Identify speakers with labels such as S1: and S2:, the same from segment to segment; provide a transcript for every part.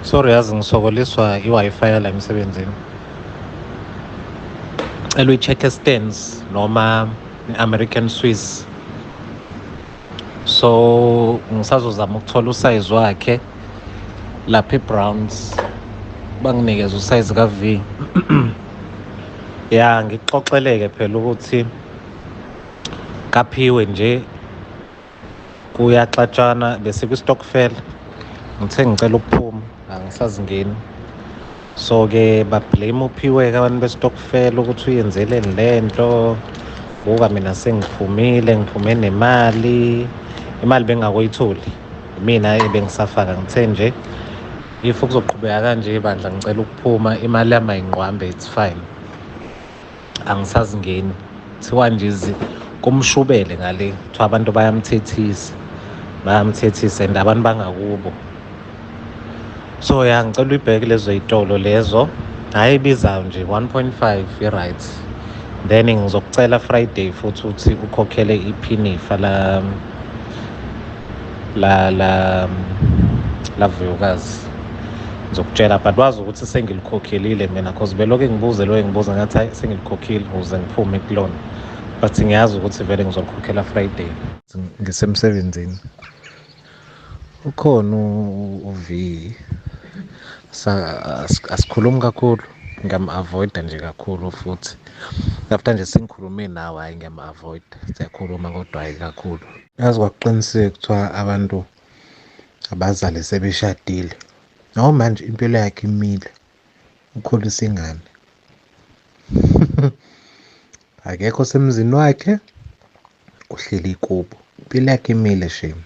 S1: Sorry yazi ngisokoliswa i-Wi-Fi yala emsebenzini. Cela uyi-check stands noma i-American Swiss. So ngisazozama ukuthola usize wakhe lapha e-Browns banginikeza usize ka-V. ya ngixoxeleke phela ukuthi kaphiwe nje kuyaxatshana besikwistockfel ngithe ngicela ukuphuma angisazingeni so-ke bablame uphiweka abantu bestockfel ukuthi uyenzeleni le nto buka mina sengiphumile ngiphume nemali imali bengakoyitholi mina ebengisafaka ngithe nje if kuzoqhubeka kanje bandla ngicela ukuphuma imali yami ayinqwambe it's fine angisazingeni kuthiwa nje kumshubele ngale kuthiwa abantu bayamthethisa bayamthethisa and abantu bangakubo so ya ngicela uyibheke lezo yitolo lezo hhayi ibizayo nje 1.5 i-right then ngizokucela friday futhi ukuthi ukhokhele iphinifa la la la lavuyokazi ngizokutshela but wazi ukuthi sengilikhokhelile mina cause beloke ngibuze loyo ngibuza ngathi hayi sengilikhokhile ukuze ngiphume kulona but ngiyazi ukuthi vele ngizolikhokhela friday ngisemsebenzini Ukhona uV asikhulumi kakhulu ngiyam-avoida nje kakhulu futhi after nje sengikhulume nawe hhayi ngiyam-avoida siyakhuluma kodwa hhayi kakhulu yazi kwakuqinisile kuthiwa abantu abazali sebeshadile nawo manje impilo yakhe imile ukhulisa ingane akekho semzini wakhe uhleli kubo impilo yakhe imile shame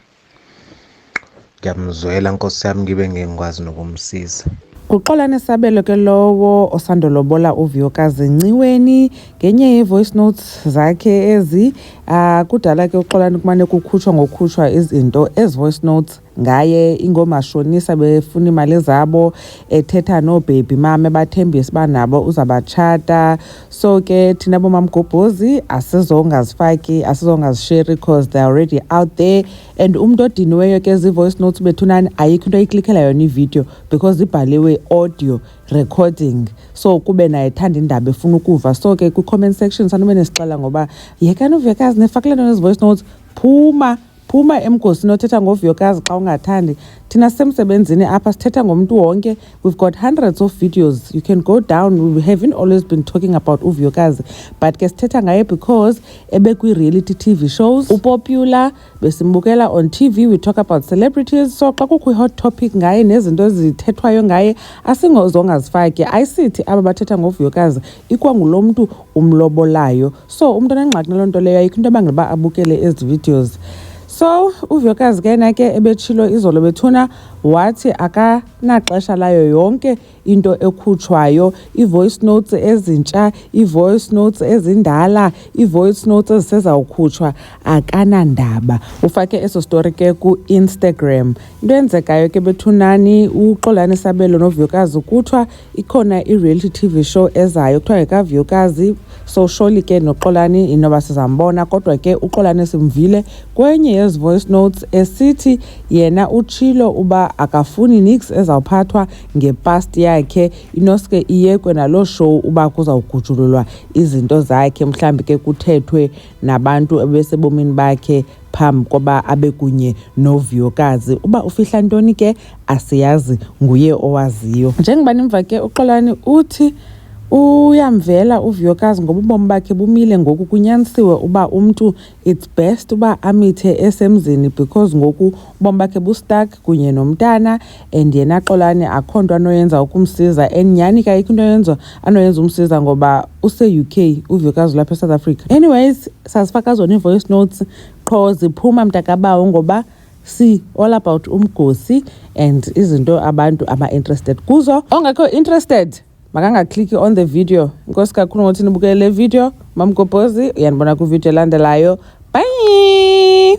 S1: ngiyamzwela nkosi yami ngibe ngeke ngikwazi nokumsiza Uxolani
S2: Sabelo ke lowo osandolobola uViyokazi Nciweni ngenye yevoice notes zakhe ezi ah, kudala ke uxolani kumane kukhutshwa ngokhutshwa izinto as voice notes ngaye ingomashonisa befuna imali zabo ethetha no baby mama ebathembisa banabo uzabachata so ke thina bomamgobhozi asizongazifaki asizongazisheri because they already out there and umuntu odiniweyo ke zi-voice notes bethunani ayikho into oyiklikhela yona ividiyo because ibhaliwe audio recording so kube naye thanda indaba efuna ukuva so ke kwi-comment section sanube nesixela ngoba yekani uvekazi nefakile nto nezi-voice notes phuma Phuma emgosini othetha ngovuyokazi xa ungathandi. Thina sisemsebenzini apha sithetha ngomntu wonke. We've got hundreds of videos. You can go down. We haven't always been talking about uvuyokazi. But ke sithetha ngaye because ebekwi-reality TV shows. Upopular, besimbukela on TV. We talk about celebrities. So xa kukho i-hot topic ngaye nezinto ezithethwayo ngaye asingozongazifaki. Ayisithi aba bathetha ngovuyokazi ikwangulo mntu umlobolayo. so umntu anengxaki naloo nto leyo ayikho into ebangela uba abukele ezi videos so uvuyokazi ke yena ke ebetshilo izolo bethuna wathi akanaxesha layo yonke into ekhutshwayo ii-voice notes ezintsha ii-voice notes ezindala ii-voice notes ezisezawukhutshwa akanandaba ufake eso story ke ku-instagram into eyenzekayo ke bethunani uxolani sabelo novuyokazi kuthiwa ikhona i-reality tv show ezayo kuthiwa ngekavuyokazi so surely ke noxolani inoba sizambona kodwa ke uxolani simvile kwenye yezi voice notes esithi yena utshilo uba akafuni nix ezawuphathwa ngepast yakhe inoske iyekwe naloo show uba kuzawugujululwa izinto zakhe mhlawumbi ke kuthethwe nabantu ebesebomini bakhe phambi koba abe kunye novuyokazi. Uba ufihla ntoni ke asiyazi, nguye owaziyo. Njengoba nimva ke, uXolani uthi uyamvela uvuyokazi ngoba ubomi bakhe bumile ngoku. Kunyanisiwe uba umntu it's best uba amithe esemzini because ngoku ubomi bakhe bustuck kunye nomntana and yena Xolani akho nto anoyenza ukumsiza and nyhani kayikho into yenza anoyenza umsiza ngoba use-uk uvikazi lapha esouth africa anyways sasifaka zona ii-voice notes qho ziphuma mntakabawo ngoba si all about umgosi and izinto abantu aba-interested kuzo ongekho interested makangakliki on the video inkosi kakhulu ngothi nibukele le video mamgobhozi uyanibona kwividiyo elandelayo bye